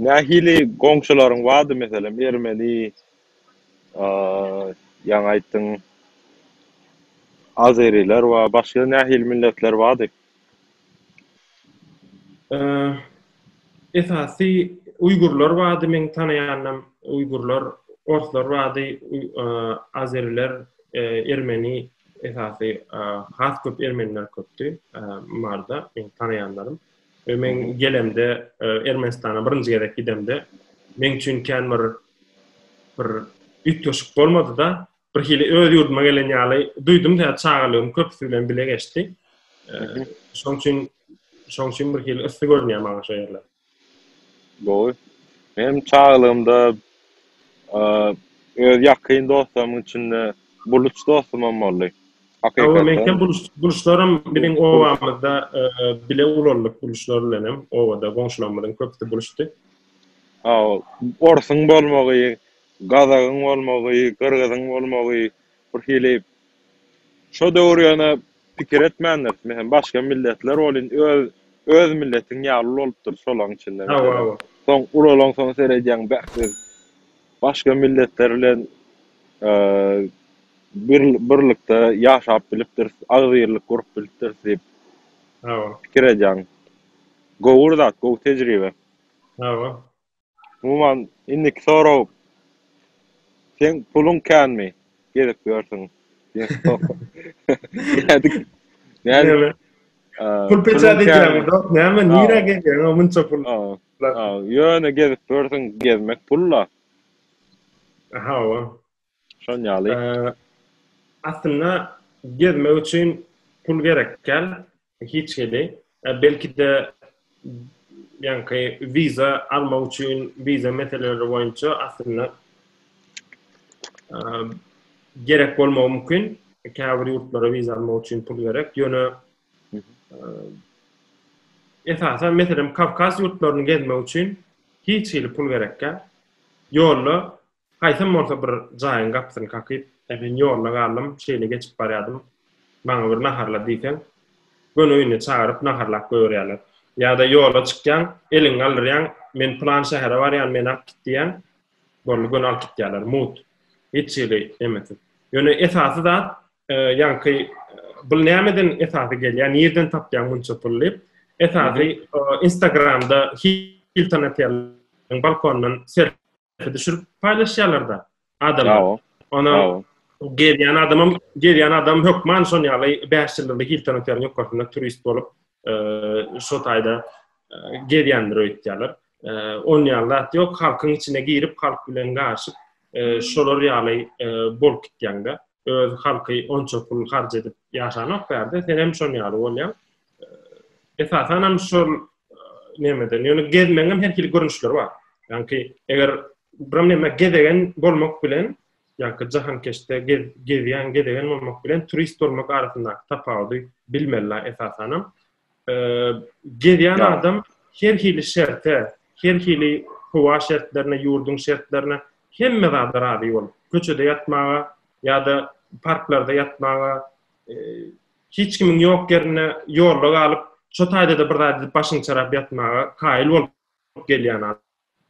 Nähili goňşularyň bardy, meselem, ermeni? Ýaňy aýtdyň, azeriler we başga nähili milletler bardy? Esasy uýgurlar bardy, meň tanaýanam uýgurlar, orslar bardy, azeriler, ermeni, esasy has köp ermeniler köpdi Marda, meň tanaýanlarym. Meň gelemde, Ermenistana birinji gezek gidemde, meň üçin kän bir bir üýtgeşik bolmady-da, birhili öz ýurduma gelen ýaly duýdum, sebäbi çagalygym köpüsi bilen bile geçdi. Şoň üçin, şoň üçin birhili yssy görünýär maňa şo ýerler. Gowy. Menem çagalygymda öz ýakyn dostlarymyň içinde buluç dostumam boldy. Hakykatdan. Meňkem buluç, buluçlaram biziň obamyzda bile ulaldyk buluçlar bilenem, obada goňşularymyzyň köpüsi buluçdy. Orsuň bolmagy, gazagyň bolmagy, gyrgyzyň bolmagy birhili şo döwür ýöne pikir etmändir. Meselem, başga milletler welin öz öz milletiň ýaly bolupdyr şolaň içinde. Soň ulalaň soň seredýäň bähbit başga milletler bilen bir birlikde ýaşap bilipdir, agzybirlik gurup bilipdir diýip pikir edýäň. Gowyr zat, gowy tejribe. Hawa. Umuman indiki sorag seň puluň känmi gezip ýörsüň diýen sorag. Nädip pul peçat edýäňmi dost näme nirä gezýäňä munça pul ýöne gezip ýörsüň gezmek pul-la. Hawa. Şon ýaly. Aslynda gezmek üçin pul gerek däl hiç hili. Belki-de ýaňky wiza almak üçin wiza meseleleri boýunça aslynda gerek bolmagy mümkin. Käbir ýurtlara wiza almak üçin pul gerek. Ýöne esasan meselem Kawkaz ýurtlaryny gezmek üçin hiç hili pul gerek däl. Ýolda Haýsam bolsa bir jaýyň gapysyny kakyp, äpet ýoluna galdym, şeýle geçip barýardym. Maňa bir naharla diýseň, göni öýüne çagyryp naharlap goýberýärler. Ýa-da ýola çykýaň, eliňi galdyrýaň, men pylan şähere barýan, meni alyp git diýýäň, boldy göni alyp gitýärler, mugt, hiç hili nemesiz. Ýöne esasy zat, ýaňky bul nämeden esasy gelýär, nirden tapýaň munça pul diýip, esasy Instagramda Hilton oteliň balkonyndan düşürip paýlaşýarlar-da adamlar. Ona gelýän adamam, gelýän adam hökman şon ýaly 5 ýyldyzly Hilton otelyň ýokarsynda turist bolup, şo taýda gelýändir öýtýärler. On ýaly zat ýok, halkyň içine girip, halk bilen garyşyp, şolar ýaly bolup gitýäňde. Öz halky onça pul harç edip ýaşanok bärde, senem şon ýaly bolýaň. Esasanam şol Nämeden? Ýöne gezmegiň hem her hili görnüşleri bar. Ýagny eger bir näme gezegen bolmak bilen, ýagny jahankeşde gezýän, gezegen bolmak bilen turist bolmak arasyndaky tapawudy bilmeli esasan hem. Gezýän adam her hili şerte, her hili howa şertlerine, ýurduň şertlerine hemme zada razy bolup, köçede ýatmaga ýa-da parklarda ýatmaga Hiç kimiň ýok ýerinde ýolda galyp, şo taýda-da bir zat edip başyňy çarap ýatmaga kaýyl bolup gelýän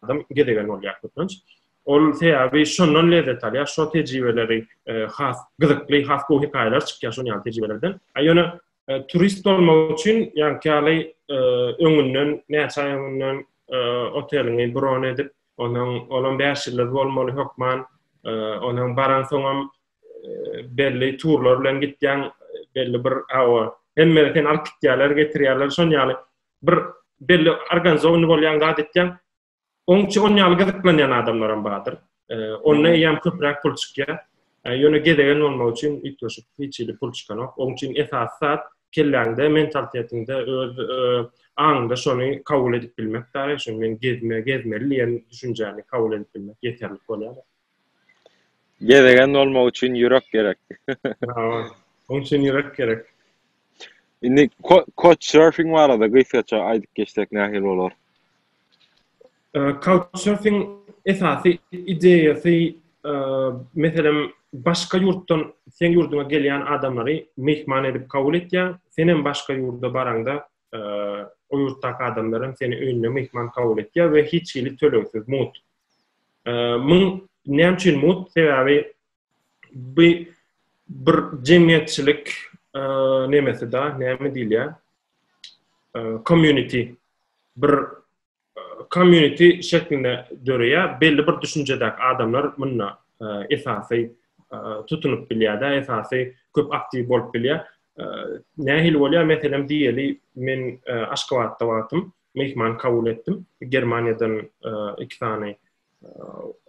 adam gezegen bolýar köplenç. Ol sebäbi şondan lezzet alýar, şo tejribeleri has gyzykly, has gowy hekaýalar çykýar şol ýaly tejribelerden. A ýöne turist bolmak üçin ýaňky ýaly öňünden, näçe aý öňünden oteliňi bron edip, onuň olam bäş ýyldyz bolmaly hökman, onuň baraňsoňam belli turlar bilen gitýäň, belli bir awa. Hemme sen alyp gitýärler, getirýärler, şon ýaly bir belli organizowany bolýan zat etýäň. Oň üçin oň ýaly gyzyklanýan adamlar hem bardyr. Onda eýýäm köpräk pul çykýar. Ýöne gezegen bolmak üçin üýtgeşik hiç hili pul çykanok. Oň üçin esasy zat kelläňde, mentalitetiňde, öz aňyňda şony kabul edip bilmek, daýy, şony men gezme, gezmeli diýen düşünjäni kabul edip bilmek ýeterlik bolýar. Gezegen bolmak üçin ýürek gerek. Oň üçin ýürek gerek. Indi couchsurfing barada gysgaça aýdyp geçsek nähili bolar? Couchsurfing esasy ideýasy meselem başga ýurtdan seň ýurduňa gelýän adamlary myhman edip kabul etýäň. Senem başga ýurda baraňda o ýurtdaky adamlar hem seni öýüne myhman kabul etýär we hiç hili tölegsiz mut. Muň näme üçin mut? Sebäbi bu bir jemgyýetçilik nemesi da, näme diýilýär? Community bir community şeklinde döreýär. Belli bir düşünjedäki adamlar munda esasy tutunyp bilýär-de, esasy köp aktiw bolup bilýär. Nähili bolýar? Meselem, diýeli, men Aşgabatda wagtym myhman kabul etdim. Germaniýadan iki sany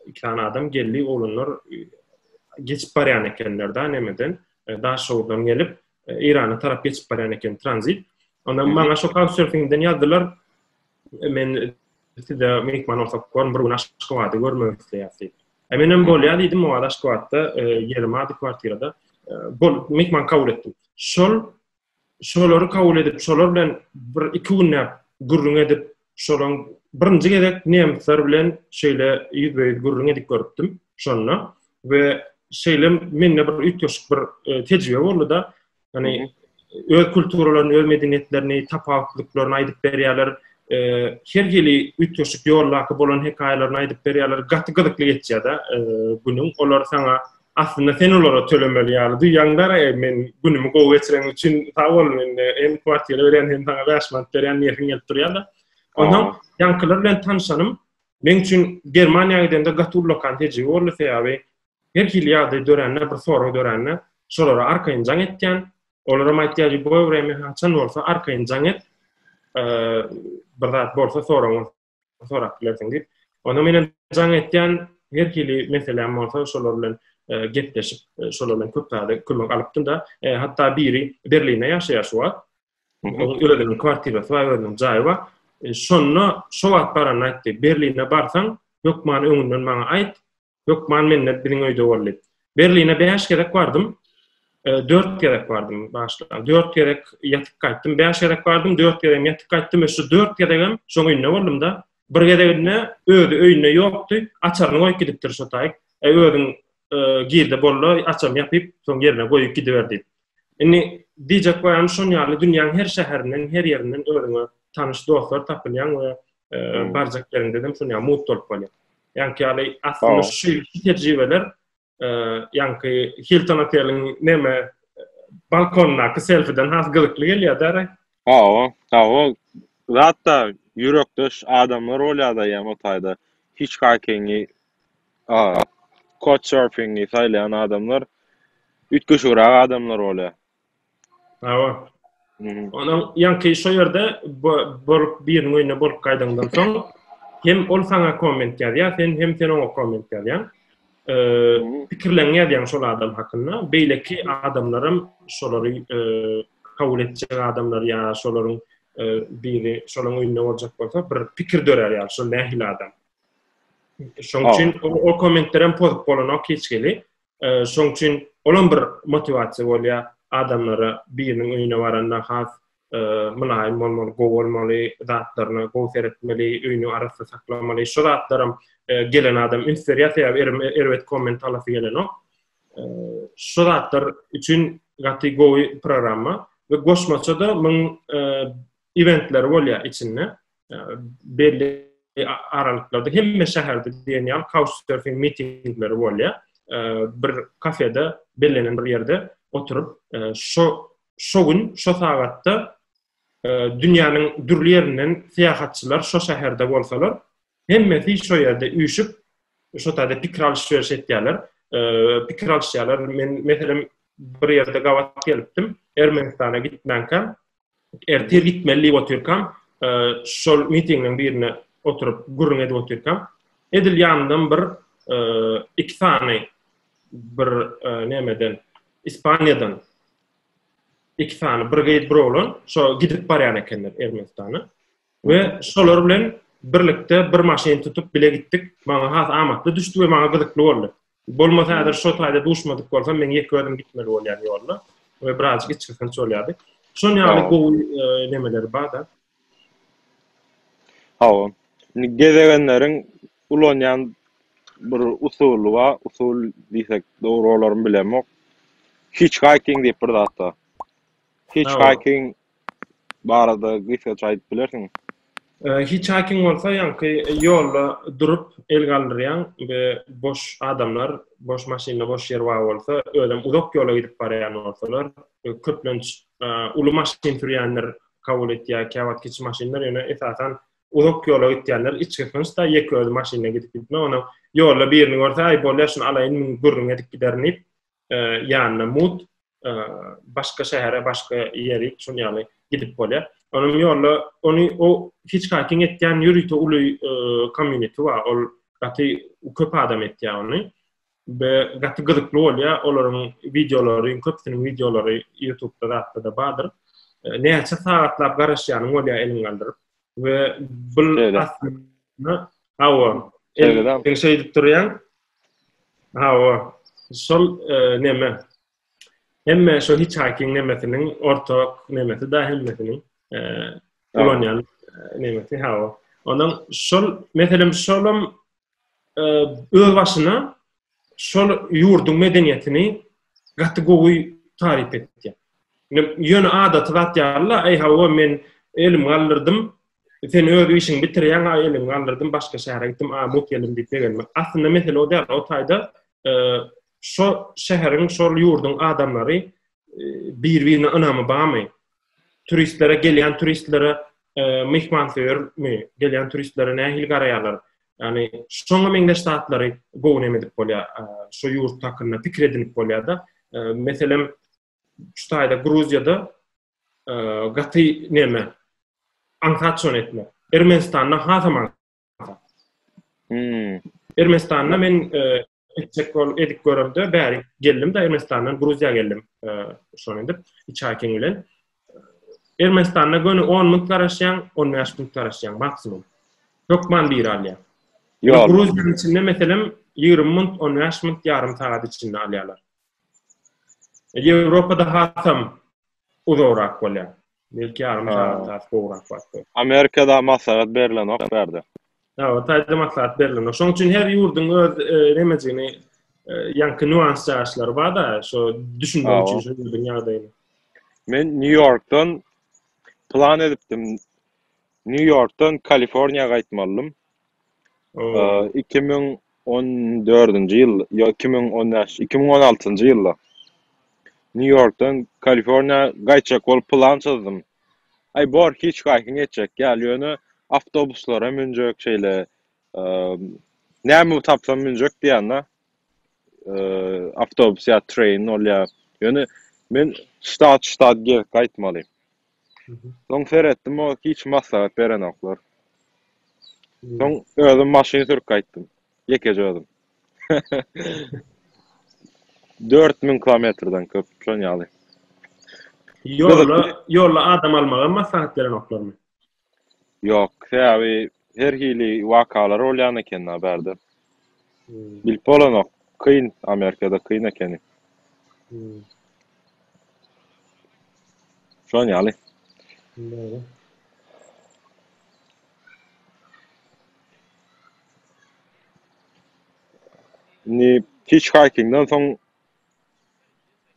iki tane adam geldi olanlar geçip baryan ekenler da nemeden e, Daşoguzdan gelip e, İran'a tarap geçip baryan eken tranzit. Ondan bana şu Couchsurfing'den yazdılar. E, men size mekman olsak görün bir gün Aşgabatda görmek isteýärdi. E men hem bolýar diýdim, o Aşgabatda ýerim ady kwartirada. Bol mekman kabul etdim. Şol Şolary kabul edip, şolar bilen bir iki günläp gürrüň edip, şolaň birinji gezek nemsler bilen şeýle ýüzbe-ýüz gürrüň edip görüpdim şonda we şeýle mende bir üýtgeşik bir tejribe boldy-da, ýagny öz kulturalaryny, öz medeniýetlerini, tapawutlyklaryny aýdyp berýärler, her hili üýtgeşik ýoldaky bolan hekaýalaryny aýdyp berýärler, gaty gyzykly geçýär-de günüň, olar saňa Aslynda sen olara tölemeli ýaly duýýaňdar, e, men günümi gowy geçireň üçin sag bol, men hem kwartira berýän, hem saňa bäş manat berýän diýesim gelip durýar-da. Ondan ýaňkylar bilen tanşanym meň üçin Germaniýa gidende gaty ullakan tejribe boldy, sebäbi her hili ýagdaý dörände, bir sorag dörände, şolara arkaýyn jaň etýän, olaram aýtýar, Lýuboý wremýa haçan bolsa arkaýyn jaň et, e, bir zat bolsa, sorag bolsa, sorap bilersiň diýip. Onda meniň jaň etýän her hili meseläm bolsa şolar bilen e, gepleşip, e, şolar bilen köp zady kömek alypdym da. E, hatda biri Berlinde ýaşaýar şu wagt. Onuň özüniň kwartirasy bar, özüniň jaýy bar. Şonda şu wagt baranda aýtdy, Berlinde barsaň, hökman öňünden maňa aýt, Hökman mende biziň öýde boldy. Berline bäş gezek bardym. Dört gezek bardym başda. Dört gezek ýatyp gaýtdym. Bäş gezek bardym, dört gezek ýatyp gaýtdym. Şu dört gezegem şoň öýünde boldum-da. Bir gezeginde özi öýünde ýokdy. Açaryny goýup gidipdir şo taýyk. Äý özüň girde bolda, açaryny ýapyp, soň ýerine goýup gidiber diýip. Indi diýjek baýanymyz şonuň ýaly, dünýäň her şäherinden, her ýerinden özüňe tanyş dostlar tapylýan we barjak ýeriňde hem şonuň ýaly mugt bolup bolýar. Ýaňky ýaly aslynda şu tejribeler ýaňky Hilton oteliň näme balkondaky selfiden has gyzykly gelýär-dä. Hawa, hawa, zat-da ýürekdeş adamlar bolýar-da ýa o taýda hitchhikingi, couchsurfingi saýlaýan adamlar üýtgeşigräk adamlar bolýar. Hawa. Onuň ýaňky şo ýerde bolup biriniň öýünde bolup gaýdaňdan soň hem ol saňa komment ýazýar, sen hem sen oňa komment ýazýaň. pikirlerini ýazýan şol adam hakynda beýleki adamlaram şolary kabul etjek adamlar ýa şolaryň biri şolaryň öýünde boljak bolsa bir pikir dörär ýa şol nähili adam şoň üçin o kommentlerem pozup bolanok hiç geli şoň üçin olam bir motiwasiýa bolýar adamlara biriniň öýüne baranda has mylaýym bolmaly, gowy bolmaly, zatlaryna gowy seretmeli, öýüni arassa saklamaly. Şu zatlaram gelen adam üns berýär, sebäbi erbet komment alasy gelenok. Şu zatlar üçin gaty gowy programma we goşmaça-da muň eventleri bolýar içinde. Belli aralyklarda hemme şäherde diýen ýaly couchsurfing mitingleri bolýar. Bir kafede bellenen bir ýerde oturyp, şu şo gün, şo sagatda dünýäniň dürli ýerinden syýahatçylar şo şäherde bolsalar, hemmesi şo ýerde üýşüp, şo taýda pikir alyş-beriş etýärler. Pikir alyşýarlar. Men, meselem, bir ýerde gabat gelipdim, Ermenistana gitmänkä, ertir gitmeli diýip otyrkam, şol mitingiň birine oturyp gürrüň edip otyrkam, edil ýanymdan bir iki sany bir nämeden, Ispaniýadan iki sany bir gyz bir oglan şo gidip barýan ekenler ermenistana we şolar bilen birlikde bir maşyn tutup bile gitdik maňa has amatly düşdi we maňa gyzykly boldy bolmasa häzir şo taýda duşmadyk bolsam men ýeke özüm gitmeli bolýan ýolda we birazjyk içgysynç bolýardy şon ýaly gowy e, nemeleri bar da Hawa. Indi gezegenleriň ulanýan bir usuly bar. Usul diýsek dogry bolarmy bilemok. Hitchhiking diýip bir zat bar. Hitchhiking barada gysgaça aýdyp bilersiňmi? Hitchhiking bolsa ýaňky ýolda durup el galdyrýaň we boş adamlar, boş maşynlar, boş ýer bar bolsa, özem uzak ýola gidip barýan bolsalar, köplenç uly maşyn sürýänler kabul etýär, käwagt kiçi maşynlar, ýöne esasan uzak ýola gitýänler içki hynçda ýeke özi maşynda gidip gitme, ony ýolda birini görse, aý bolýar şuny alaýyn müň gürrüň edip giderin diýip, ýanyna mut, başga şähere, başga ýerik şun ýaly gidip bolýar. Onuň ýolda ony o hitchhiking etýän ýörite uly community bar, ol gaty köp adam etýär ony. we gaty gyzykly bolýar olaryň wideolary köpüsiniň wideolary ýutubda zatda-da bardyr näçe sagatlap garaşýanyň bolýar eliň galdyryp we bul aslynda hawa eliň şeýdip durýaň hawa şol e, neme hemme şu hitchhiking nemesiniň ortak nemesi da hemmesiniň e, ulanýan e, nemesi hawa onuň şol meselem şolam e, öz başyna şol ýurduň medeniýetini gaty gowy taryp etdi. Ýöne adaty zat ýaly, aý hawa men elim galdyrdym, sen öz işiňi bitirýäň, aý elim galdyrdym, başga şähere gitdim, a mut geldim diýip begenme. Aslynda mesele o däl, o taýda e, şo şäheriň, şol ýurduň adamlary bir-birine ynamy barmy? Turistlere, gelýän turistlere e, myhmansöýermi? Gelýän turistlere nähili garaýarlar? Ýani şoňa meňzeş zatlary gowy näme edip bolýar? E, şu ýurt hakynda pikir edinip bolýar-da. E, meselem, şu taýda Gruziýada e, gaty näme? Aňsat şony etmek. Ermenistanda hasam aňsat. Hmm. Ermenistanda men e, etjek bol edip göremde bäri geldim de Ermenistandan Gruziýa geldim. Şonu edip iki ay keň bilen Ermenistanda göni 10 minut garaşýan, 15 minut garaşýan maksimum. Hökman bir alýan. Ýa Gruziýanyň içinde meselem 20 minut, 15 minut ýarym sagat içinde alýarlar. Ýewropada hasam Uzagrak bolýar. Belki ýarym sagat has gowrak wagt bolar. Amerikada maslahat berilenok bärde. Hawa taýda maslahat berilenok. Şoň üçin her ýurduň öz nemejigini ýaňky nuans jaýaşlary barda şo düşünmek üçin şu ýurduň ýagdaýyny. Men New Yorkdan plan edipdim. New Yorkdan Kaliforniýa gaýtmalydym. Iki müň on dördünji ýyl, ýok, iki müň on bäş, iki müň on altynjy ýylda Nýu-Ýorkdan Kaliforniýa gaýtjak bolup plan çyzdym. Aý, bor, hiçkaýsyň ýetjek ýaly, ýöne awtobuslara münjek, şeýle, näme tapsam münjek diýen-de, awtobus ýa train bolýar. Ýöne men ştat-ştat gezip gaýtmaly. Soň seretdim, o hiç maslahat berenoklar. Soň özüm maşyn sürüp gaýtdym. Ýekeje özüm. Dört müň kilometrden köp, şon ýaly. Ýolda, ýolda adam almagam maslahat berenoklarmy? Ýok, sebäbi her hili wakalar bolýan eken da bärde. Bilip bolanok, kyn, Amerikada kyn ekeni. Şon ýaly. Dogry. Indi hitchhiking-den soň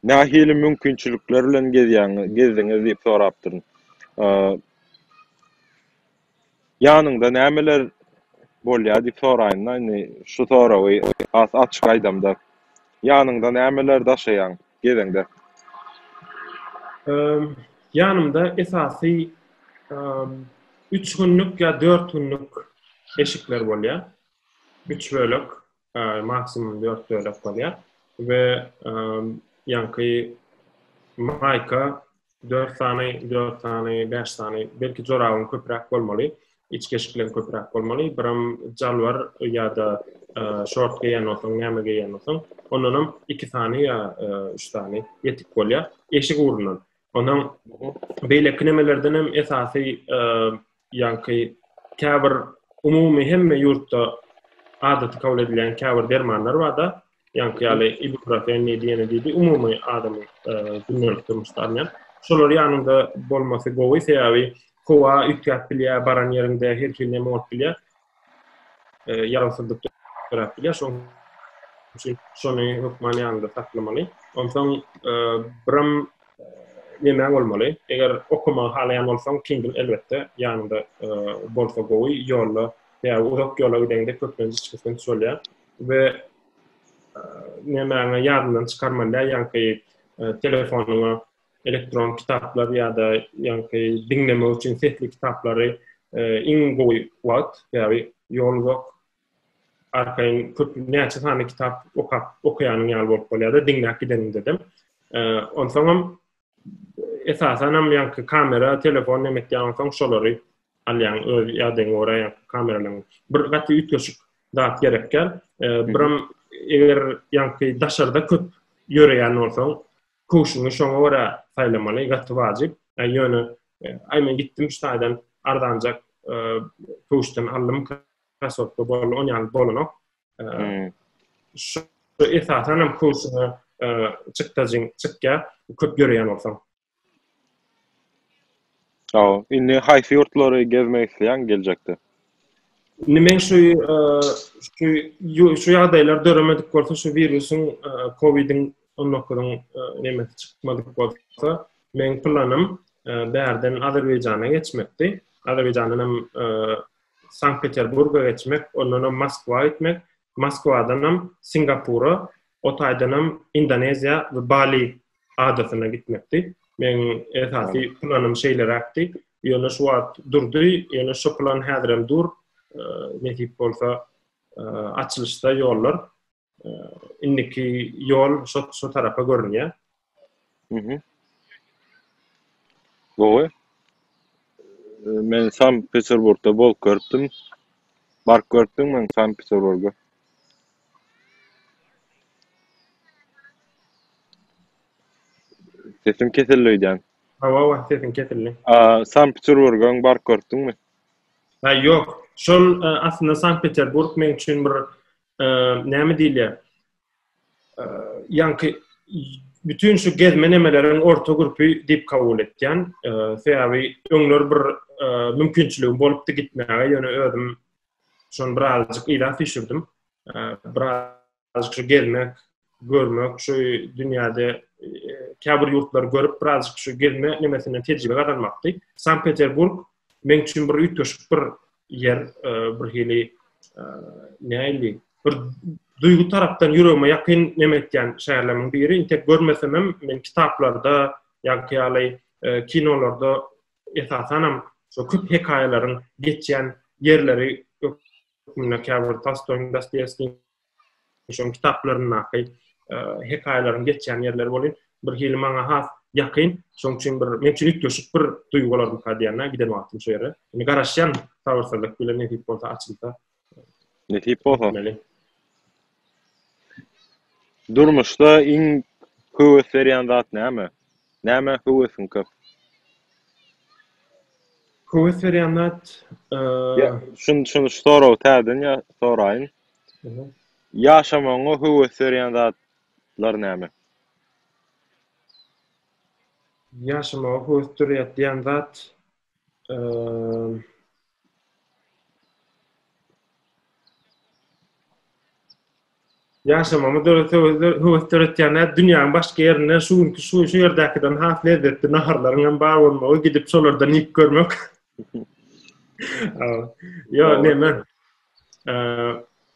Nähili mümkinçilikler bilen gezdiňiz diýip sorapdyryn. Ýanyňda nämeler bolýar diýip soraýynda, indi şu soragy has açyk aýdamda, ýanyňda nämeler daşaýaň gezeňde? Ýanymda esasy üç günlük ýa dört günlük eşikler bolýar, üç bölek. Maksimum dört bölek bolýar we ýaňky maýka dört sany, dört sany, bäş sany, belki jorabyň köpräk bolmaly, iç keşikleň köpräk bolmaly, biram jalbar ýa-da şort geýen bolsaň, näme geýen bolsaň, ondanam iki sany ýa üç sany ýetik bolýar. Eşik ugrundan, Ondan beýleki nemelerden hem esasy ýaňky käbir umumy hemme ýurtda adaty kabul edilen käbir dermanlar barda, ýaňky ýaly ibuprofen diýdi, ýene diýdi, umumy adamy gündelik durmuşda alýan. Şolar ýanyňda bolmasy gowy, sebäbi howa üýtgäp bilýär, baran ýeriňde her hili neme bolup bilýär. e, ýarawsyzlyk döräp bilýär. Şoň üçin şony hökman ýanyňda saklamaly. Onsoň e, biram e, nemäň bolmaly? Eger okamagy halaýan bolsaň, Kindle elbetde ýanyňda e, bolsa gowy. Ýolda ýa uzak ýola gideňde köplenç hiç kysym bolýar. We nemäňe ýadyndan çykarmaly ýa ýa-da telefonyňa elektron kitaplar ýa-da ýaňky diňlemek üçin sesli kitaplary e, iň gowy wagt, sebäbi ýol uzak. Arkaýyn köp näçe sany kitap okap okaýanyň ýaly bolup bolýar-da, diňläp gideniňde-de. E, onsoň hem esasan hem ýaňky kamera, telefon näme etýän onsoň şolary alýan öz ýadagyň görä ýaňky kameralaryň. Bir gaty üýtgeşik zat gerekýär. E, bir hem eger ýaňky daşarda köp ýöreýän bolsaň, Köwşüňi şoňa görä saýlamaly, gaty wajyp. Ýöne, aý men gitdim şu taýdan arzanjak köwşden aldym, krasowka boldy, on ýaly bolanok. Şu esasan hem köwşüňe çykdajyň çykýar, köp ýöreýän bolsaň. Indi haýsy ýurtlary gezmek isleýäň geljekde? Indi men şu şu ýagdaýlar döremedik bolsa, şu wirusyň, kowidiň on dokuzyn nemesi çykmadyk bolsa, meň planym bärden Azerbaýjana geçmekdi. Azerbaýjandan hem Sankt Peterburga geçmek, ondan hem Moskwa gitmek, Moskwadan hem Singapura, o taýdan hem Indoneziýa we Bali adasyna gitmekdi. Meň esasy planym şeýleräkdi. Ýöne şu wagt durdy, ýöne şu plan häzirem dur. Nesip bolsa, açylyşda ýollar indiki ýol şu şu tarapa görünýär. Mhm. Gowy. Men Sankt-Peterburgda bolup görüpdim. Baryp görüpdiňmi Sankt-Peterburga? Sesiň kesildi öýdýän. Hawa, hawa, sesiň kesildi. A, Sankt-Peterburga baryp görüpdiňmi? Ha, ýok. Şol e, aslynda Sankt-Peterburg meň üçin bir e, näme diýilýär? E, ýaňky bütün şu gezme nemeleriň orta gürpi diýip kabul etýän. E, sebäbi öňler bir e, mümkinçiligim bolupdy gitmäge, ýöne özüm Şony birazjyk yza süýşürdim. Birazjyk şu gezmek, görmek, şu dünýäde e, käbir ýurtlary görüp, birazjyk şu gezme nemesinden tejribe gazanmakdy. Sankt-Peterburg meň üçin bir üýtgeşik bir ýer, e, bir hili e, näli bir duýgy tarapdan ýüregime ýakyn neme etýän şäherleriň biri. Inte görmesem hem men kitaplarda ýa-da ýaly kinolarda Esasanam şo köp hekaýalaryň geçýän ýerleri hökmünde käbir Tolstoýyň, Dostoýewskiň şoň kitaplaryndaky hekaýalaryň geçýän ýerleri bolup, bir hili maňa has ýakyn, şoň üçin bir men üçin üýtgeşik bir duýgular bu kadýana giden wagtym şu ýere. Indi garaşýan sabyrsyzlyk bilen nesip bolsa açylsa Nesip bolsa. Etmeli. Durmuşda iň höwes berýän zat näme? Nämä höwesiň köp? Höwes berýän zat, eee, Ýa, şun, şun, şu soragy täzeden ýa, soraýyn. Aha. Ýaşamagyňa höwes berýän zatlar näme? ýaşamaga höwes berýär diýen zat, Ýaşamagyma höwes döretýän dünýäň başga ýerinde şu günki şu ýerdäkiden has lezzetli naharlaryň hem bar bolmagy, gidip şolardan iýip görmek. Ýa näme?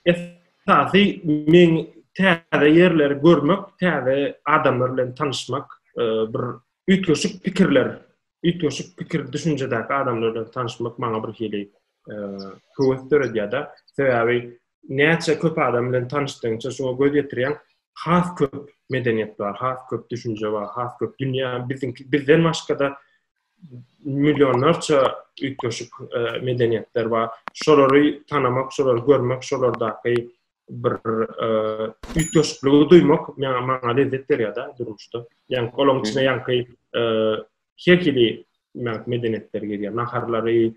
Esasy men täze ýerleri görmek, täze adamlar bilen tanyşmak, bir üýtgeşik pikirler üýtgeşik pikir düşünjedäki adamlar bilen tanyşmak maňa bir hili höwes döredýärda sebäbi näçe köp adam bilen tanyşdygyňça şoňa göz ýetirýäň has köp medeniýet bar has köp düşünje bar has köp dünýä biziňki bizden başgada millionlarça üýtgeşik medeniýetler bar şolary tanamak şolary görmek şolardaky bir üýtgeşikligi duýmak maňa maňa lezzet berýär-de durmuşda. Ýaňky golaň içine ýaňky her hili medeniýetler girýär. Naharlary,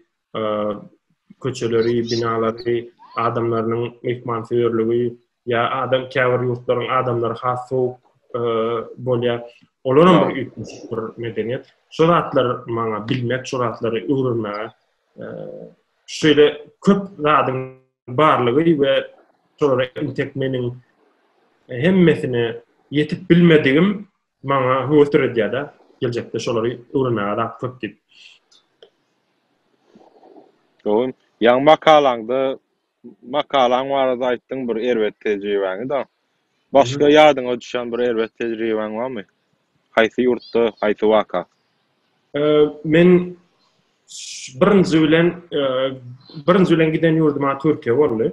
köçeleri, binalary, adamlarynyň myhmansöýerligi, ýa adam käbir ýurtlaryň adamlary has sowuk bolýar. Olar hem bir üýtgeşik bir medeniýet. Şu zatlar maňa bilmek, şu zatlary öwrenmäge şeýle köp zadyň barlygy we şolara intek meniň hemmesine ýetip bilmedigim maňa höwes döredýär-de, geljekde şolary öwrenmäge zat köp diýip. Gowy. Ýaňy makalaňda makalaň barada aýtdyň bir erbet tejribäňi-de. Başga ýadyňa düşen bir erbet tejribäň barmy? Haýsy ýurtda, haýsy waka? Men birinji bilen birinji bilen giden ýurduma Türkiýe boldy.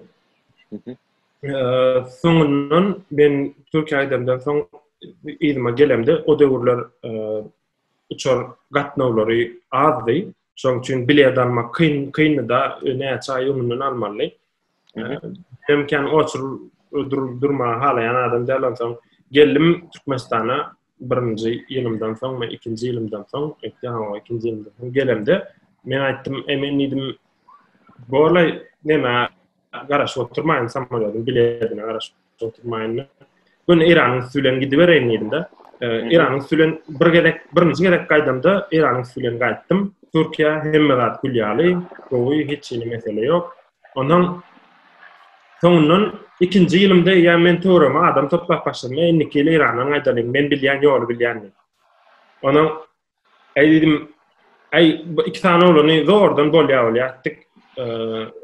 Soňundan men Türkiýe gidemden soň yzyma gelemde o döwürler uçar gatnawlary azdy. Şonuň üçin bilet almak kyn kyndy-da, näçe aý öňünden almalydy. Hem kän oçur durma halaýan adam däl onsoň geldim Türkmenistana birinji ýylymdan soň we ikinji ýylymdan soň etdi ha ikinji ýylymdan soň gelemde men aýtdym emin diýdim bolay näme garaşyp oturmaýyn samolýodyň biletine garaşyp Oturmaýynda. Gün Iranyň üsti bilen gidibereýin diýdim-de. Iranyň üsti bilen bir gezek, birinji gezek gaýdamda Iranyň üsti bilen gaýtdym. Türkiýe hemme zat gül ýaly, gowy, hiç hili mesele ýok. Ondan soňundan ikinji ýylymda ýa men töweregime adam toplap başladym, indiki ýyl Irandan gaýdalyň, men bilýän ýoly bilýän diýip. Ondan Äý diýdim, äý bu iki sany oglany zordan bolýa bolýa etdik,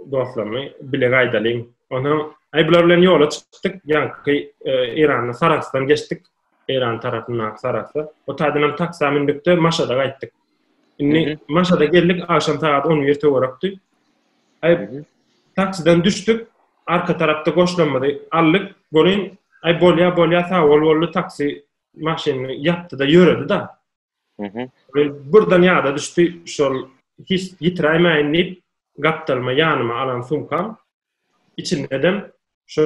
dostlarymy bile gaýdalyň. Onsoň äý bular bilen ýola çykdyk, ýaňky Eýranda Sarahsdan geçdik, Eýran tarapyndaky Sarahsa. O taýdan hem taksä mündükde Maşada gaýtdyk. Indi Maşada geldik, agşam sagat 11 töwerekdi. Äý taksiden düşdük, arka tarapda goşlamyzy aldyk, welin äý bolýa bolýa sag bol boldy taksi maşynyny ýapdy-da ýöredi-da. Mhm. Birden ýada düşdi, şol hiç ýitiräýmäýin diýip, gapdalyma ýanyma alan sumkam, içindedem şu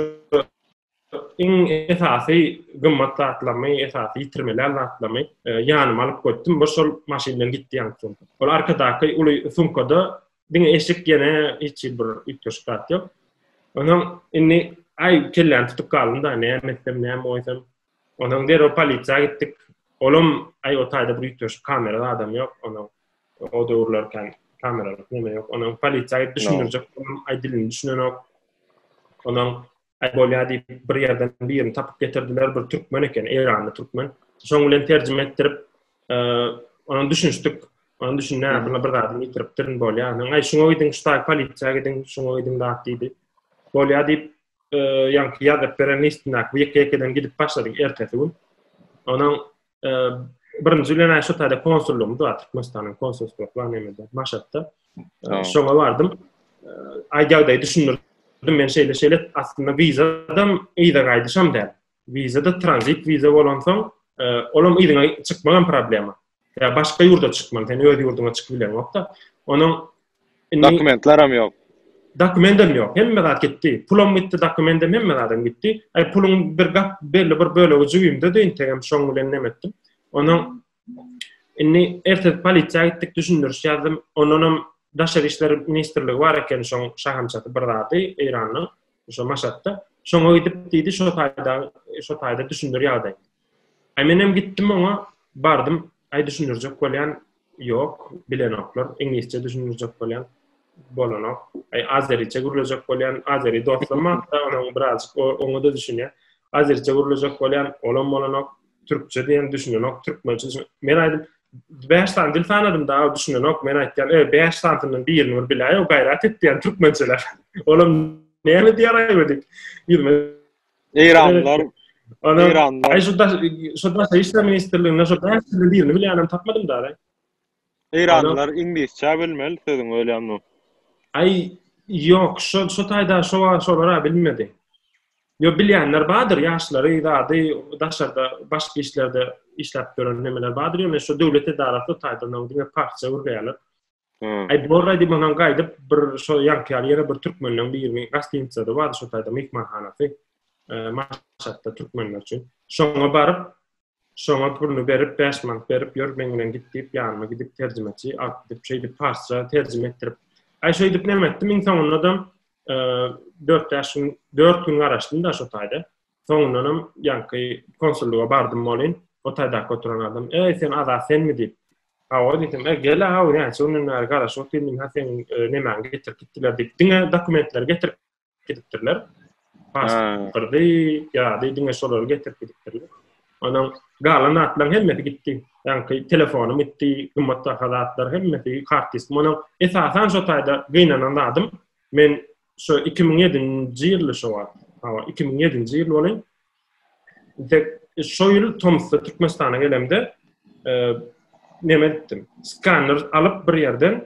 iň esasy gymmat zatlamy, esasy ýitirmelän zatlamy e, ýanyma alyp goýdum. Bir şol maşyn bilen gitdi ýaňky sumka. Ol arkadaky uly sumkada diňe eşik ýene hiç bir üýtgeşik zat ýok. Ondan indi aý kelläni tutup galdym-da, näme etsem, näme goýsam. Ondan derrew polisiýa gitdik. Olam aý o taýda bir üýtgeşik kamerada adam ýok. Ondan o döwürler kan kameralar näme ýok. Ondan polisiýa gidip düşündirjek boldum. Aý dilini düşünenok. Ondan aý bolýar diýip bir ýerden birini tapyp getirdiler. Bir türkmen eken, eýranly türkmen. Şoň bilen terjime etdirip, e, ondan düşünişdik. Ondan düşünýär, buna bir zadyny ýitiripdirin bolýar. Ondan aý şuňa gidiň, şu taý polisiýa gidiň, şuňa gidiň zat diýdi. Bolýar diýip, ýaňky ýazyp beren listindäki ýeke-ýekeden gidip başladyk ertesi gün. Onuň birinji bilen şu taýda konsullygymyz bar, Türkmenistanyň konsulstwa plan emede, Maşatda. Şoňa bardym. Aý ýagdaýy düşündirdim, men şeýle-şeýle aslynda wizadam, yza gaýdyşam däl. Wiza-da tranzit wiza bolansoň, e, olam yzyňa çykmagam problema. Ýa başga ýurda çykman, sen öz ýurduňa çykyp bileňokda. Onuň dokumentler hem ýok. Dokument hem ýok. Hemme zat gitdi. Pulum gitdi, dokument hem hemme zat gitdi. Ay pulun bir gap belli bir bölegi jübimde de integem şoň bilen nemetdim. Onuň Indi ertir polisiýa gitdik, düşündiriş ýazdym. Ondan hem Daşary işler ministrligi bar eken, şoň şahamçasy bir zady Eýranyň, şo Maşatda. Şoňa gidip diýdi, şo taýda, şo taýda düşündir ýagdaý. Aý men hem gitdim oňa, bardym. Aý düşündirjek bolýan, ýok, bilenoklar. Iňlisçe düşündirjek bolýan, bolanok. Aý azeriçe gürlejek bolýan, azeri dostum bar, onuň birazjyk oňa-da düşünýär. Azeriçe gürlejek bolýan, olam bolanok. Türkçe diýen düşünenok, türkmençe düşün. Men aýdym 5 sany dil sanadım da düşünenok. Men aýtýan, "E, 5 sanydan birini bir biläý, o gaýrat et" diýen türkmençeler. Olam näme diýär aýby diýip. Ýüzme. Eýranlar Ana, Eýranlar. Aý şu da şu da işler ministrliginde şu da birini bilänem tapmadym da. Eýranlylar iňlisçä bilmeli sözüň ölýän bolup. Aý ýok şo şo taýda şo wagt şolara bilinmedi. Ýo bilýänler bardyr ýaşlary zady daşarda başga işlerde işläp ýören nemeler bardyr ýöne şo döwlet edarasy o taýda onuň diňe parça gürleýärler. Aý borra diýip onam gaýdyp bir şo ýaňky ýaly ýene bir türkmenleň birini gastinicada bardy şo taýda myhmanhanasy. Maşatda türkmenler üçin. Şoňa baryp Şoňa puluny berip, bäş manat berip, ýör, meň bilen git diýip, ýanyma gidip, terjimeçi alyp gidip, şeýdip, parsça terjime etdirip. Aý, şeýdip näme etdim, iň soňundadam dört-bäş gün, dört gün garaşdym-da şo taýda. Soňundanam ýaňky konsullyga bardym welin, o taýdaky oturan adam, Eý, sen Azat senmi? diýip. Hawa diýdim. E, gel-ä, hawa, näçe günden bäri garaşyp otyryn, diýdim, hä, seniň nemäňi getirip gitdiler diýip, diňe dokumentleri getirip gidipdirler. Pasporty, ýady, diňe şolary getirip gidipdirler. Onuň galan zatlaryň hemmesi gitdi. Ýaňky telefonym gitdi, gymmat baha zatlar hemmesi, kart diskim. Onuň esasan şo taýda gynanan zadym, men şo 2007-nji ýylda şo wagt, hawa, 2007-nji ýyl boluň. Dek şo ýyl Tomsda Türkmenistana gelemde, e, neme etdim? Skanner alyp bir ýerden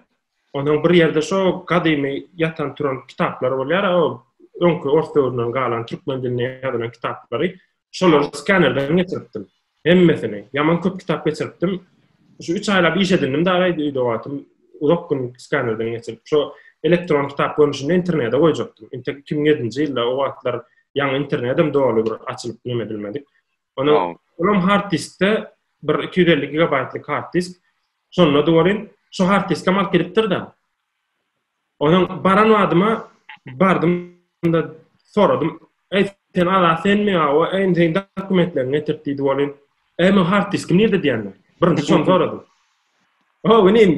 Onuň bir ýerde şo gadymy ýatan-turan kitaplary bolýar, o öňki ors döwründen galan türkmen dilinde ýazylan kitaplary. Şolary skanerden geçiripdim. Hemmesini. Ýaman köp kitap geçiripdim. Şu üç aýlap iş edindim dagy aýdy öýde wagtym. Uzak gün skanerden geçirip, şo elektron kitap görnüşinde internete goýjakdym. Inte 2007-nji ýylda o wagtlar ýaňy internedem doly bir açylyp nemedilmedik. Ony olam hard diskde bir 250 gigabaytlyk hard disk. Şonda da bolin, şu hard disk amal kiripdir da. Onun baran adyma bardım da soradım. Ey sen ala sen mi awa en sen dokumentlerini getirip diýdi bolin. Ey men hard diski nirde diýende. Birinji şonu soradım. Hoo inim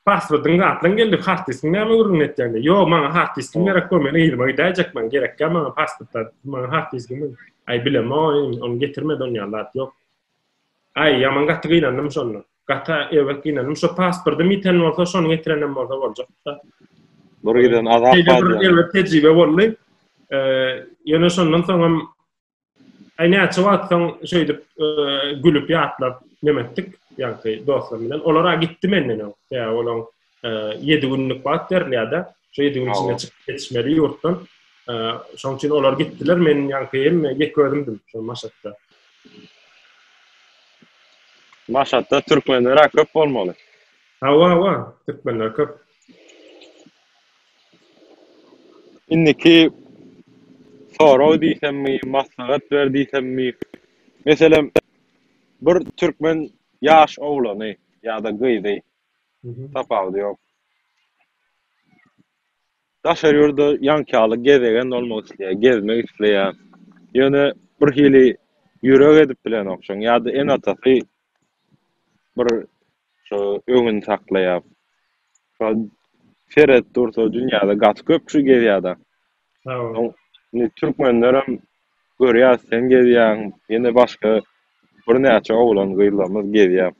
passwordyňy atlaň geldi hard diskiň näme gürrüňini etýäňde ýo maňa hard diskiň gerek bol men yzyma gidäýjek maňa gerekýa maňa passwordlar maňa hard diskiň aý bilemok inim ony getirmedi ony ýaly zat ýok aý ýaman gaty gynandym şonda gaty erbet gynandym şo passwordym ýiten bolsa şony getirenem bolsa boljakda bir giden azap bar diýen tejribe boldy ýöne şondan soňam Aý näçe wagt soň şeýdip gülüp ýatlap neme etdik, ýaňky dostlarym bilen. Olar a gitdi menden öň. Tä olaň 7 günlük wagt berilýär-de. Şo 7 gün içinde çykyp geçmeli ýurtdan. Şoň üçin olar gitdiler, men ýaňky hemme ýek özümdim şo Maşatda. Maşatda türkmenler-ä köp bolmaly. Hawa, hawa, türkmenler köp. Indiki sorag diýsemmi, maslahat ber diýsemmi, meselem, bir türkmen ýaş oglany ýa-da gyzy, tapawudy ýok, daşary ýurda ýaňkýaly gezegen bolmak isleýär, gezmek isleýär, ýöne birhili ýürek edip bilenokjaň ýa-da ene-atasy bir şo öňüni saklaýar. Şo seret dursa dünýäde gaty köp kişi gezýärda. Hawa. Indi türkmenlerem görýäs sen gezýäň, ýene başga birnäçe oglan gyzlarymyz gezýär.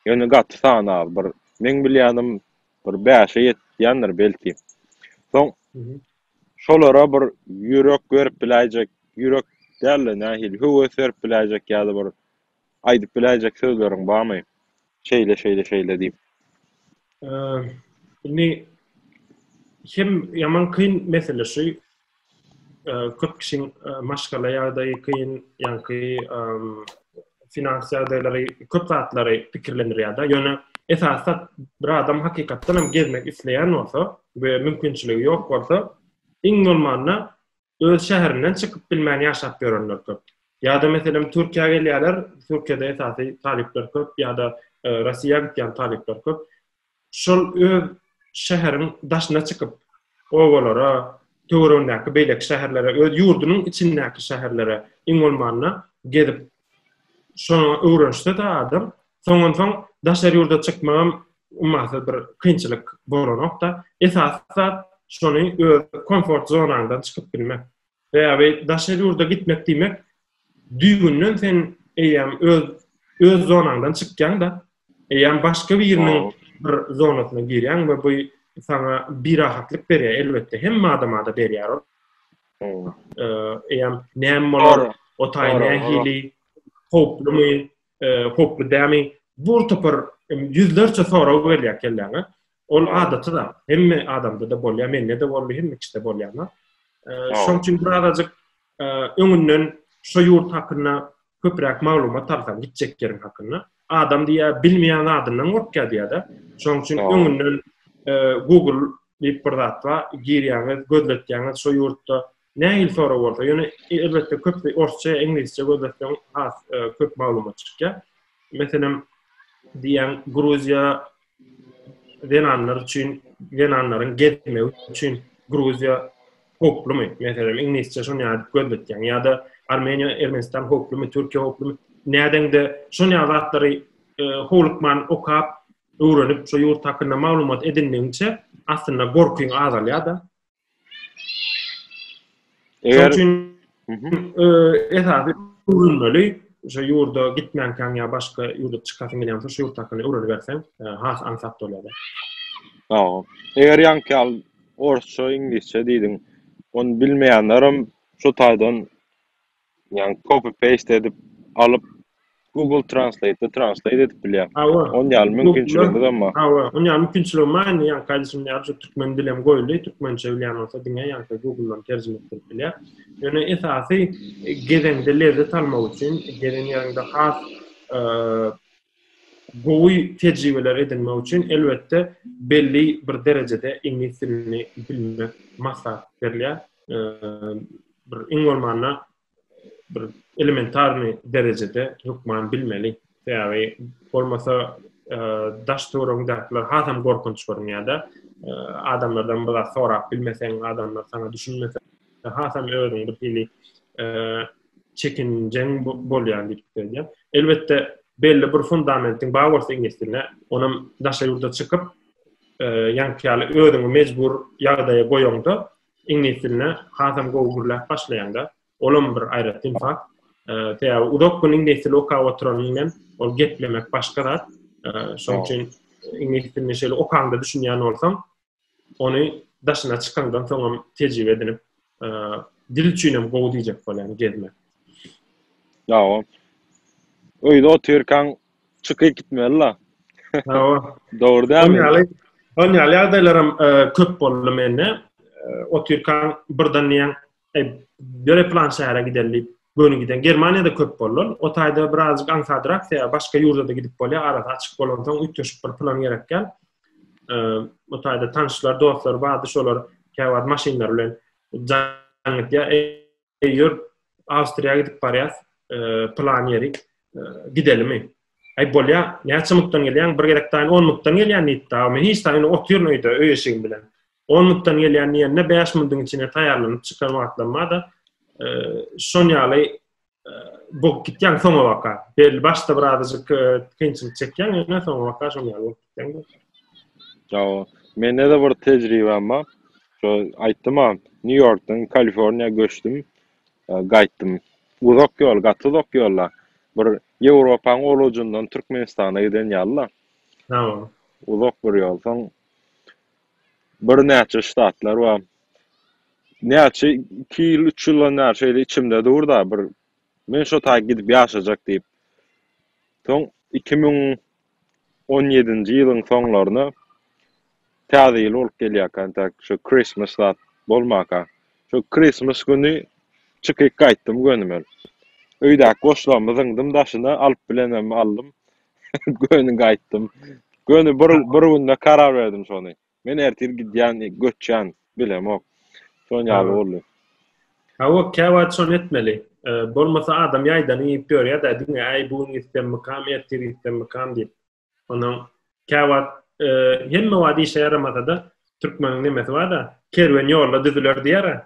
Ýöne gaty sany az bir meň bilýänim bir bäşe ýetýändir belki. Soň şolara bir ýürek berip biläýjek, ýürek däl-de nähili höwes berip biläýjek ýa-da bir aýdyp biläýjek sözleriň barmy? Şeýle, şeýle, şeýle diýip. Indi hem ýaman kyn mesele şu. Köp kişiň maşgala ýagdaýy kyn, ýaňky finans ýagdaýlary köp zatlary pikirlendirýär-de. Ýöne esasda bir adam hakykatdan hem gezmek isleýän bolsa we mümkinçiligi ýok bolsa, iň bolmanda öz şäherinden çykyp bilmän ýaşap ýörenler köp. Ýa-da meselem Türkiýä gelýärler, Türkiýede esasy talyplar köp ýa-da Rossiýa gitýän talyplar köp. Şol öz şäheriň daşyna çykyp, obalara, töweregindäki beýleki şäherlere, öz ýurdunyň içindäki şäherlere iň bolmanda gezip Şoňa öwrenişse-de adam, soňunsoň daşary ýurda çykmagam ummasyz bir kynçylyk bolanok-da. Esasy zat, şony öz komfort zonaňdan çykyp bilmek. Sebäbi daşary ýurda gitmek diýmek, düýbünden sen eýýäm öz öz zonaňdan çykýaň-da. Eýýäm başga biriniň bir zonasyna girýäň we bu saňa birahatlyk berýär, elbetde, hemme adama-da berýär ol. Eýýäm näme bolar, o taý nähili, howplumy, howply dälmi, bir topar ýüzlerçe sorag gelýär kelläňe. Ol adaty zat. Hemme adamda-da bolýar, mende-de boldy, hemme kişide bolýan zat. Şoň üçin birazajyk öňünden şu ýurt hakynda köpräk maglumat alsaň, gitjek ýeriň hakynda, adam diýýär, bilmeýän zadyndan gorkýar diýýär-de. Şoň üçin öňünden Google diýip bir zat bar, girýäňiz, gözletýäňiz, şu ýurtda Nähili sorag bolsa, ýöne elbetde köp orsça ýa iňlisçe gözletseň has köp maglumat çykýar. Meselem, diýýän Gruziýa zenanlar üçin, zenanlaryň gezmegi üçin Gruziýa howplumy? Meselem, iňlisçe şony ýazyp gözletýäň. Ýa-da Armeniýa, Ermenistan howplumy, Türkiýe howplumy? Nädeňde şon ýaly zatlary e, howlukman okap, öwrenip, şo ýurt hakynda maglumat edindigiňçe aslynda gorkyň azalýar-da. Eger üçin esasy öwrenmeli, şu ýurda gitmänkäň ýa başga ýurda çykasyň gelýän bolsa, şu ýurt hakynda öwreniberseň, has aňsat bolýar. Hawa. Eger ýaňky ýaly orsça, iňlisçe diýdiň, ony bilmeýänlerem şu taýdan Ýagny copy paste edip alyp Google translate-de translate edip bilýär. Hawa. Ony ýaly mümkinçiligimizem bar. Hawa, ony ýaly mümkinçiligim bar indi ýagny kardeşim ýaly şu türkmen dili hem goýuldy, türkmençe bilýän bolsa diňe ýagny Google-dan terjime etdirip bilýär. Ýöne esasy gezeňde lezzet almak üçin, gezen ýeriňde has Gowy tejribeler edinmek üçin, elbetde, belli bir derejede iňlis dilini bilmek maslahat berilýär. Bir iň bolmanda bir elementarny derejede hökman bilmeli. Sebäbi bolmasa daş töweregiňdäkiler hasam gorkunç görünýär-de. Adamlardan bir zat sorap bilmeseň, adamlar saňa düşünmese, hasam özüňi bir hili çekinjeň bolýan diýip pikir edýän. Elbetde belli bir fundamentiň bar bolsa iňlis diline, onam daşary ýurda çykyp, e, ýaňky ýaly özüňi mejbur ýagdaýa goýaňda, iňlis diline hasam gowy gürläp başlaýanda, olam bir aýratyn fakt. E, sebäbi uzak gün iňlis dilini okap oturanyň bilen ol geplemek başga zat. E, şonuň üçin iňlis dilini şeýle okaňda düşünýän bolsaň, ony daşyna çykaňdan soňam tejribe edinip, dil üçinem gowy diýjek bolýan gezmek. Hawa. Öýde otyrkaň çykyp gitmeli-la. Hawa. Dogry dälmi? Ýaly, ýaly ýagdaýlaram köp boldy mende. Otyrkaň birden diýen E, göre plan şähere gidelim diýip göni giden. Germaniýada köp bollar. O taýda birazjyk aňsadrak, ýa başga ýurda da gidip bolýar, arasy açyk bolansoň üýtgeşik bir plan gerekýär. E, o taýda tanşlar, dostlar bardy, şolar käwagt maşynlar bilen jaň etýär. E, ýör Awstriýa gidip barýas, e, plan ýeri e, gidelimi? Aý bolýar, näçe mutdan gelýän? Bir gezek taýyn 10 mutdan gelýän diýipdi. Men hiç taýyn otyr öýde, öý eşigim bilen. 10 minutdan gelýän diýende 5 minutiň içinde taýýarlanyp çykan wagtlam bar-da, e, şon ýaly e, bu gitýän soňa baka. Belli başda bir azajyk e, kynçylyk çekýän, ýöne soňa baka şon ýaly bolup gitýän. Ýa, mende de bir tejribem bar. Şo aýtdym ha, Nýu-Ýorkdan Kaliforniýa göçdüm, e, gaýtdym. Uzak ýol, gaty uzak ýolda. Bir Ýewropanyň ol ujundan Türkmenistana giden ýaly-da. Tamam. Uzak bir ýol. Soň Birnäçe ştatlar bar. Näçe iki ýyl, üç ýyldan bäri şeýle içimde dur-da, bir men şo taýy gidip ýaşajak diýip. Soň iki müň on ýedinji ýylyň soňlaryna Täze ýyl bolup gelýärkä, entäk şo Christmas zat bolmanka, şo Christmas güni çykyp gaýtdym göni men. Öýdäki goşlarymy zyňdym daşyna, alyp bilenem aldym. Göni gaýtdym. Göni bir, bir günde karar berdim şony. Men ertir gidýän, göçýän, bilemok. Şon ýaly boldy. Hawa, käwagt şony etmeli. Bolmasa adam ýaýdany iýip ýörýär-dä, diňe äý bu gün gitsemmikam, ertir gitsemmikam diýip. Onsoň käwagt hemme wagt işe ýaramasa-da, türkmeniň nemesi bar-da, Kerwen ýolda düzüler diýer-ä.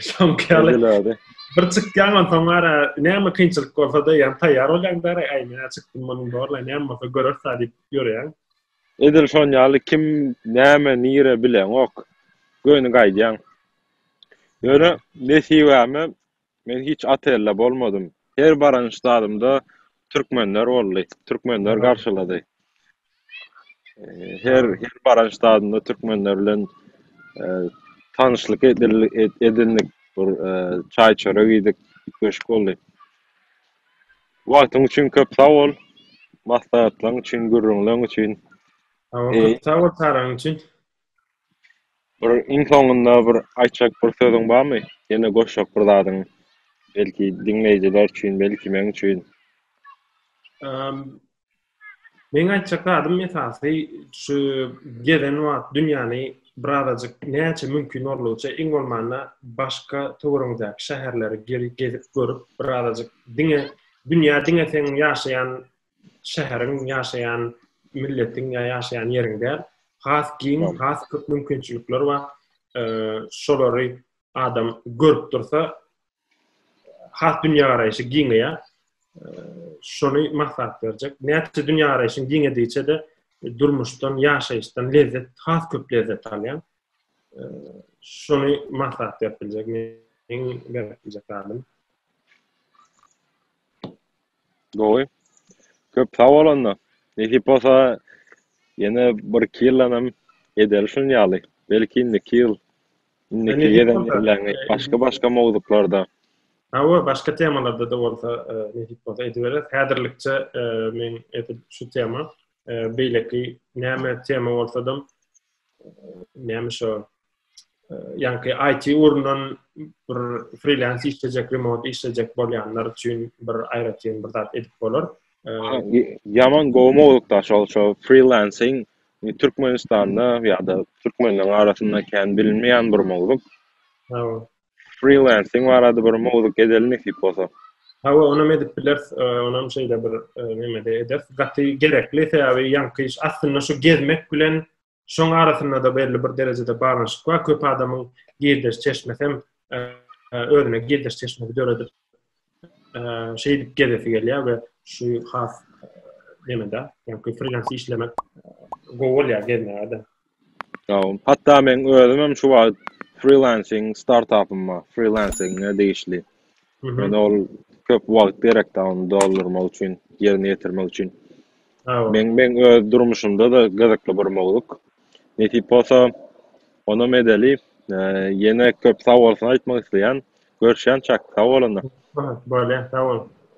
Şonky ýaly. Bir çykýan on soň ara näme kynçylyk bolsa da ýan taýýar bolýan da aý men çykdym munyň borla näme bolsa görer sa diýip ýörýän. Edil şon ýaly kim näme nire bilen ok. Göni gaýdýan. Ýöne nesibäme men hiç otelde bolmadym. Her baran ştadymda türkmenler boldy. Türkmenler garşylady. Her her baran ştatynda türkmenler bilen e, tanşlyk edil- ed- edindik. Bir e, çaý çörek iýdik. Köşk boldy. Wagtyň üçin köp sag bol. Maslahatlaryň üçin, gürrüňleriň üçin. Sag bol, Eý. köp sag bol çagyryň üçin. Bir iň soňunda bir aýtjak bir sözüň barmy? Ýene goşjak bir zadyň. Belki diňleýjiler üçin, belki men üçin. Eee, Meň aýtjak zadym esasy şu gezen wagt dünýäni birazajyk näçe mümkin boldugyça iň bolmanda başga töweregiňizdäki şäherleri gezip görüp birazajyk diňe dünýä diňe seň ýaşaýan şäheriň ýaşaýan milletiň ýa ýaşaýan ýeriň däl has giň has köp mümkinçilikler bar şolary adam görüp dursa has dünýägaraýşy giňeýär. Şony maslahat berjek. Näçe dünýägaraýşyň giňedigiçe-de durmuşdan, ýaşaýyşdan lezzet, has köp lezzet alýaň. Şony maslahat berip biljek, meň berip biljek zadym. Gowy. Köp sag bol onda. Nesip bolsa ýene bir iki ýyldanam edeli şuny ýaly. Belki indiki ýyl Indiki gezek belläňi başga başga mowzuklarda. Hawa başga temalarda da bolsa nesip bolsa edibereris. Häzirlikçe men edil şu tema beýleki näme tema bolsadam näme şo ýaňky IT ugrundan bir freelance işlejek remote işlejek bolýanlar üçin bir aýratyn bir zat edip bolar. Ýaman gowy mowzukda şol şo freelancing Türkmenistanda ýa-da türkmenleriň arasynda kän bilinmeýän bir mowzuk. Hawa. Freelancing barada bir mowzuk edelim nesip bolsa. Hawa, onam edip bileris. Onam şeýle bir nemede ederis. Gaty gerekli, sebäbi ýaňky iş aslynda şu gezmek bilen Şoň arasynda-da belli bir derejede baglanyşyk bar. Köp adamyň girdeş çeşmesi hem e, e, özüne girdeş çeşmesi döredip e, şeýdip gezesi gelýär we şu has nemede, ýa-da freelans işlemek gowy bolýar gezmäge-de. Ýa-da hatda men özüm hem şu wagt freelancing startupyma, freelancing-e degişli Men ol köp wagt gerekdi ony doldurmak üçin, ýerine ýetirmek üçin. Meň meň öz durmuşymda-da gyzykly bir mowzuk. Nesip bolsa, onam edeli. Ýene köp sag bolsun aýtmak isleýän. Görüşýänçäk, sag bol onda. Bolýa, sag bol.